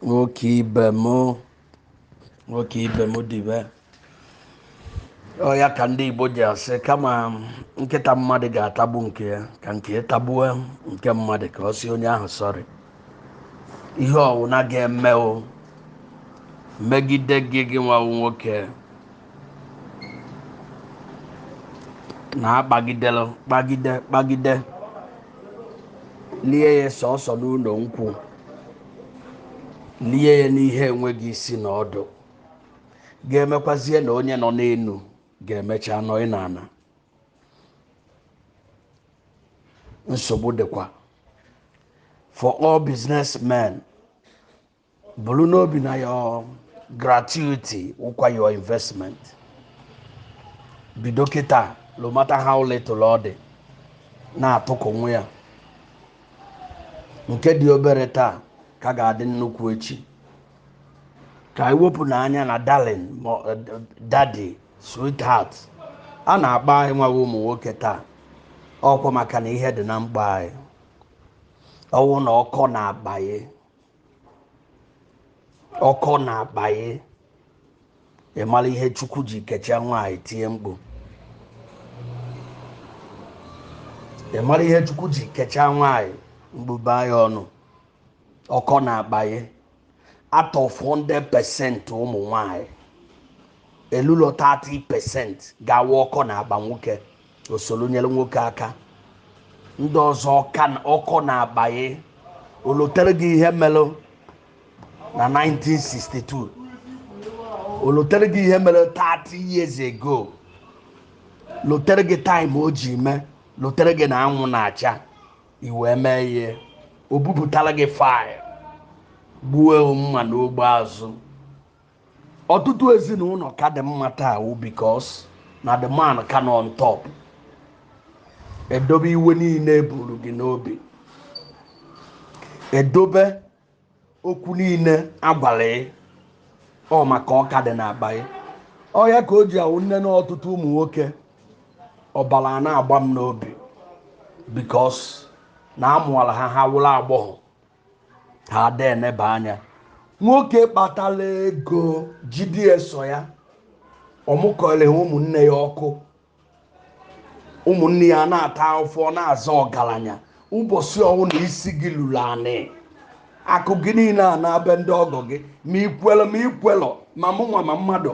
nwoke ibe m nwoke ibe m dibe ọ ya ka ndị igbo ji asị kama nkịta mmadụ ga-atagbu nke ya ka nke ya tagbuo nke mmadụ ka ọ sị onye ahụ sorry ihe ọwụna ga-eme o megide gị gị nwa wụ nwoke na akpagidere kpagide kpagide lie ya sọsọ n'ụlọ nkwụ lie ya n'ihe enweghị isi na ọdụ ga-emekwazie na onye nọ n'elu ga-emecha nọ n'ala nsogbu dịkwa for all businessmen buru n'obi na your gratuity wụkwa your investment bido kịta no matter how little ọ dị na-atụkọwa ya nke dị obere taa ka ga-adị nnukwu echi ka anyị wepụ n'anya na darling ma ọ- eh, daddy sweetheart a na-akpọ anyị nwa wụ ụmụ nwoke taa ọ kwa maka na ihe dị n'akpa anyị ọ wụ na ọ kọ n'akpa anyị ọ kọ n'akpa anyị ị mara ihe chukwu ji kechaa nwaanyị tie mkpu ị mara ihe chukwu ji kechaa nwaanyị mgbube ya ọnụ ọ kọ n'akpa anyị out of 100% ụmụ nwaanyị elulo 30% ga-awụ ọ kọ n'akpa nwoke o soro nyere nwoke aka ndị ọzọ ọ kọ na- ọ kọ n'akpa anyị o lotere gị ihe mere na 1962 o lotere gị ihe mere 30 years ago lotere gị time o ji mee lotere gị na anwụ na-acha i wee mee ihe o bupụtara gị file gbuo mma n'ogbe azụ ọtụtụ ezinụlọ ka dị mma taa wụ because na the man ka nọ on top e dobe iwe niile e buru gị n'obi e dobe okwu niile a gwara ị ọ maka ọ ka dị n'akpa ị ọ ya ka o ji awụ nne na ọtụtụ ụmụ nwoke ọbara na-agba m n'obi because na a mụọla ha ha wụrụ agbọghọ ha ada eneba anya nwoke kpatara ego jide sọ ya ọ mụkọrọ ha ụmụnne ya ọkụ ụmụnne ya na-ata afụfụ na-aza ọgaranya ụbọchị ọwụna isi gị luru anị akụ gị niile anaa be ndị ọgọ gị ma i kwelu ma i kwelọ ma mmụọ ma mmadụ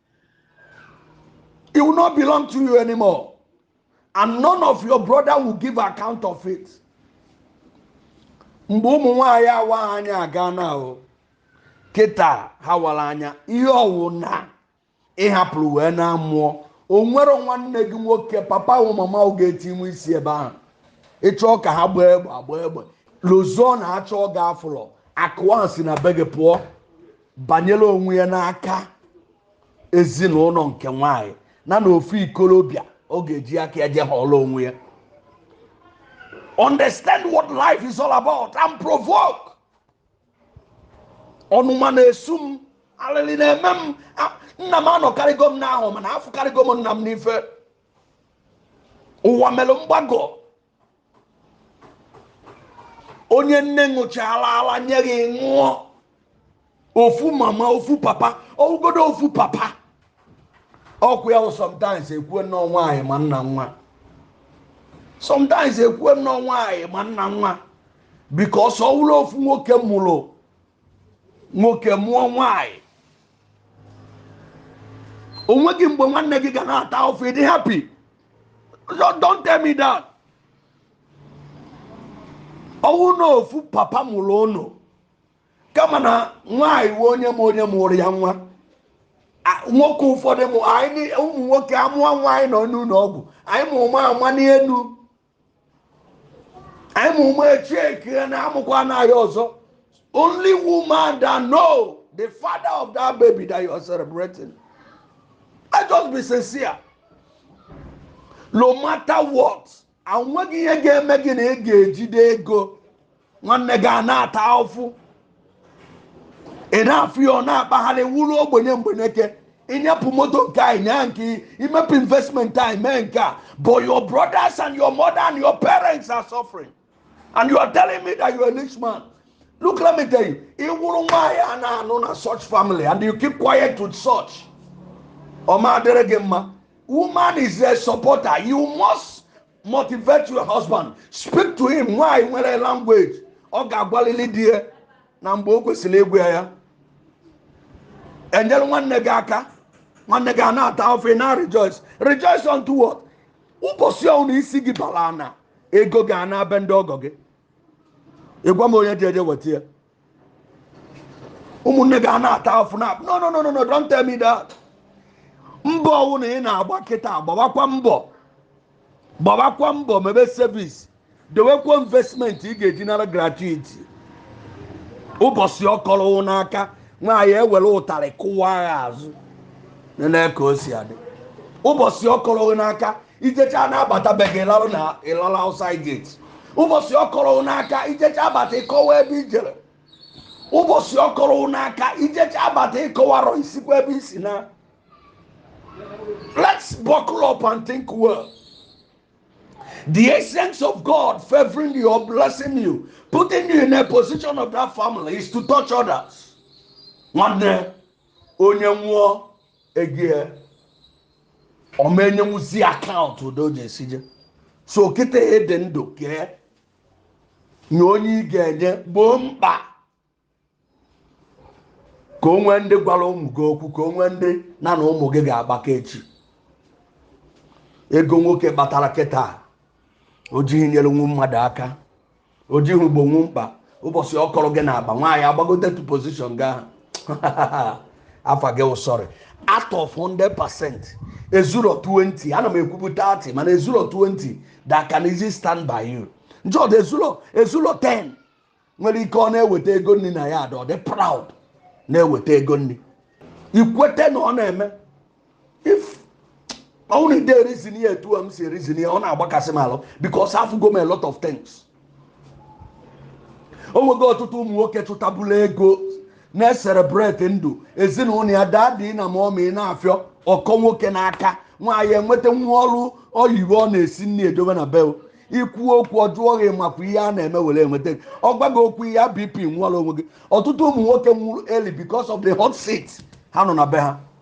It will not belong to you anymore. And none of your brother will give account of it. Mgbe ụmụ nwaanyị awa anya agana o kịta ha wara anya ihe ọwụna ịhapụrụ wee naa mmụọ o nwere nwanne gị nwoke papa o mama o ga-etinwe isi ebe ahụ ịchọọ ka ha gbaa egbe agba egbe n'ụzọ achọọ gị afụlọ akụwa si na be gị pụọ banyere onwe ya n'aka ezinụlọ nke nwanyị na na ofu ikolobịa ọ ga-eji aka ya je họrọ onwe ya understand what life is all about and provoke ọnụma na-esu m alịlị na-eme m nna m anọkarịgo m n'ahụ mana afụkarịgo m nna m n'ife ụwa mere mgbagọ onye nne ṅụchala ala nye gị ṅụọ ofu mama ofu papa ọwụgodu ofu papa ọkụ ya sometimes ekwue na ọ nwaanyị ma nna nwa sometimes ekwue na ọ nwaanyị ma nna nwa because ọ wụrụ ofu nwoke mụrụ nwoke mụọ nwaanyị onweghị mgbe nwanne gị ga na-ata ụfụ ị dị happy don't tell me that ọwụ na ofu papa mụrụ unu kama na nwaanyị nwe onye m onye mụrụ ya nwa nwoke ụfọdụ ụmụ nwoke amụọ nwa anyị nọ n'ụlọ ọgwụ anyị ma ụma ama n'elu anyị ma ụma echeki na amụkwana anyị ọzọ only woman that know the father of that baby that you are celebrating i just be sincere no matter what onweghị ihe ga-eme gị na ị ga-ejide ego nwanne gị a na-ata ụfụ ị na-afụ ya ọ na-akpagharị wụrụ ogbenye mgbeneke ịnyapụ moto nke a ịnya nke imepe investment a mee nke a but your brothers and your mother and your parents are suffering and you are telling me that you are a rich man look let me tell you ị wụrụ nwaanyị a na-anụ na such family and you keep quiet with such ọ ma adịrị gị mma woman is a supporter you must motivate your husband speak to him nwaanyị nwere language ọ ga-agwalili di ya na mgbe o kwesịrị ịgwa ya ya enyere nwanne gị aka nwanne gị a na-ata ụfụ ị na rejoice rejoice unto what ụbọchị ahụ nụ isi gị bara ana ego gị anaa be ndị ọgọ gị ịgwa m onye ga-eje weta ya ụmụnne gị a na-ata afụ na no no no no no don't tell me that mbọ ọwụna ị na-agba kịta gbawakwa mbọ gbawakwa mbọ mebe service dewekwa investment ị ga-eji nara gratuity ụbọchị ọ kọrọ gị n'aka nwaanyị ewere ụtarị kụwa gị azụ nene ka o si adị ụbọchị ọ kọrọ gị n'aka i jecha na-abata be gị lalụ na ị lala outside gate ụbọchị ọ kọrọ n'aka i jecha abata ị kọwa ebe i jere ụbọchị ọ kọrọ n'aka i jecha abata ị kọwarọ i sikwa ebe i si na let's buckle up and think well the essence of god favoring you or blessing you putting you in a position of that family is to touch others nwanne onye nwụọ ego ya ọ ma enyenwuzi account otu o ji esi je so kịta ị dị ndụ kee nye onye ị ga-enye gboo mkpa ka o nwee ndị gwara ụmụ gị okwu ka o nwee ndị na na ụmụ gị ga-agbakọ echi ego nwoke kpatara kịta o jighị nyere nwa mmadụ aka o jighị gboo nwu mkpa ụbọchị ọ kọrọ gị n'akpa nwaanyị agbagote to position gị ahụ afa gị sorry out of 100 percent ezuro 20 ana m ekwubu 30 mana ezuro 20 that can easy stand by you njọdụ ezuro ezuro 10 nwere ike ọ na-eweta ego nri na ya ada ọ dị proud na-eweta ego nri ikwete na ọ na-eme if only the reason ihe a otu m si reason ya ọ na-agbakasị m alụ because afụgo m a lot of things o nwego ọtụtụ ụmụ nwoke chụtabụla ego na-ecelebrate ndụ ezinụlọ ya daddy na mummy na-afịọ ọ kọ nwoke n'aka nwaanyị enweta nwa ọrụ oyibo ọ na-esi nri edobe na bel i kwuo okwu ọ jụọ gị ị makwa ihe a na-eme were enweta gị ọ gwa gị okwu ihe bp nwụọla onwe gị ọtụtụ ụmụ nwoke nwụrụ early because of the hot seat ha nọ na be ha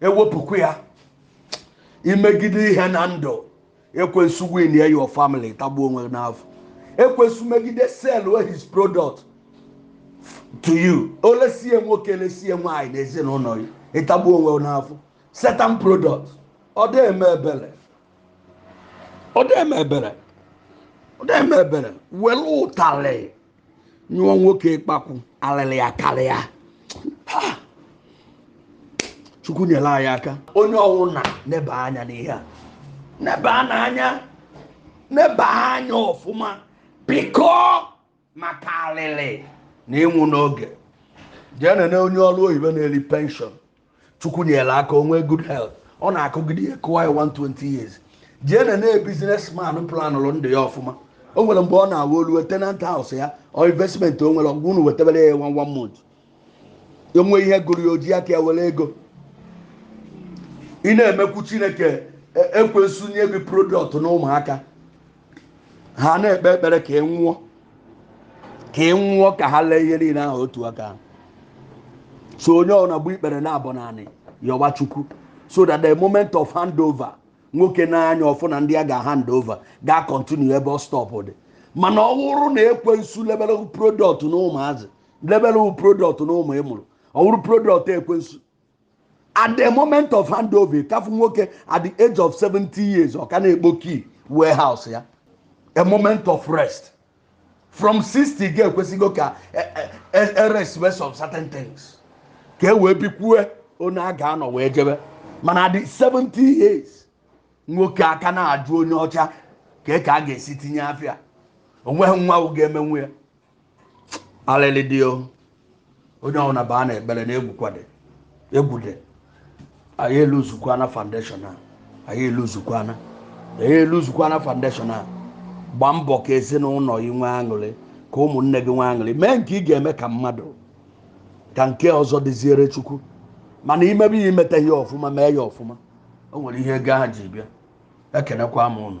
ewepụkwa ya i megide ihe na ndụ ekwensu win ya your family tagbuo onwe gị n'afụfụ ekwensu megide sell his product to you o lesie nwoke lesie nwaanyị n'ezinụlọ gị ị tagbuo onwe gị n'afụfụ satan product ọ dị eme ebere ọ dị eme ebere ọ dị eme ebere were ụtalị nyụọ nwoke ịkpakwụ alịlị akarịa chukwu nyere anyị aka onye ọwụna neba anya n'ihe a neba n'anya neba anya ọfụma biko maka alịlị na ịnwụ n'oge jee nene onye ọrụ oyibo na-eri penshọn chukwu nyere aka o nwee good health ọ na-akụgide ya kụwa ya 120 years jee nee na businessman planụrụ ndụ ya ọfụma o nwere mgbe ọ na-awa o luo tenant house ya or investment o nwere ọgwụ unu wetebere ya one one month o nwee ihe gụrụ ya o ji aka ya were ego ị na-emekwu chineke e- ekwensu nye gị product na ụmụaka ha na-ekpe ekpere ka ị nwụọ ka ị nwụọ ka ha lee ihe niile ahụ otu aka. so onye ọbụla gbuo ikpere naabọ n'anị yọwa chukwu so that the moment of handover nwoke nee anya ọ fụ na ndị a ga-hand over ga-continue ebe ọ stopped mana ọ wụrụ na ekwensu lebelụ product na ụmụazị lebelụ product na ụmụ ị mụrụ ọ wụrụ product ekwensu at the moment of handover ị ka-afụ nwoke at the age of 70 years ọ ka na-ekpo key warehouse ya a moment of rest from 60 ga-ekwesịgo ka e rest wee some certain things ka e wee bikwue onye a ga-anọ wee jebe mana at the 70 years nwoke a ka na-ajụ onye ọcha ka ka a ga-esi tinye afịa onweghị nwa ga-emenwu ya alịlị dị o onye ọbụla baa na ekpere na egwu dị egwu dị anyị eluzukwana foundation a anyị eluzukwana anyị eluzukwana foundation a gbaa mbọ ka ezinụlọ gị nwee aṅụrị ka ụmụnne gị nwee aṅụrị mee nke ị ga-eme ka mmadụ ka nke ọzọ dịziere chukwu mana i mebe ya i meta ihe ọfụma mee ya ọfụma o nwere ihe ego ahụ ji bịa ekenekwa m ụnụ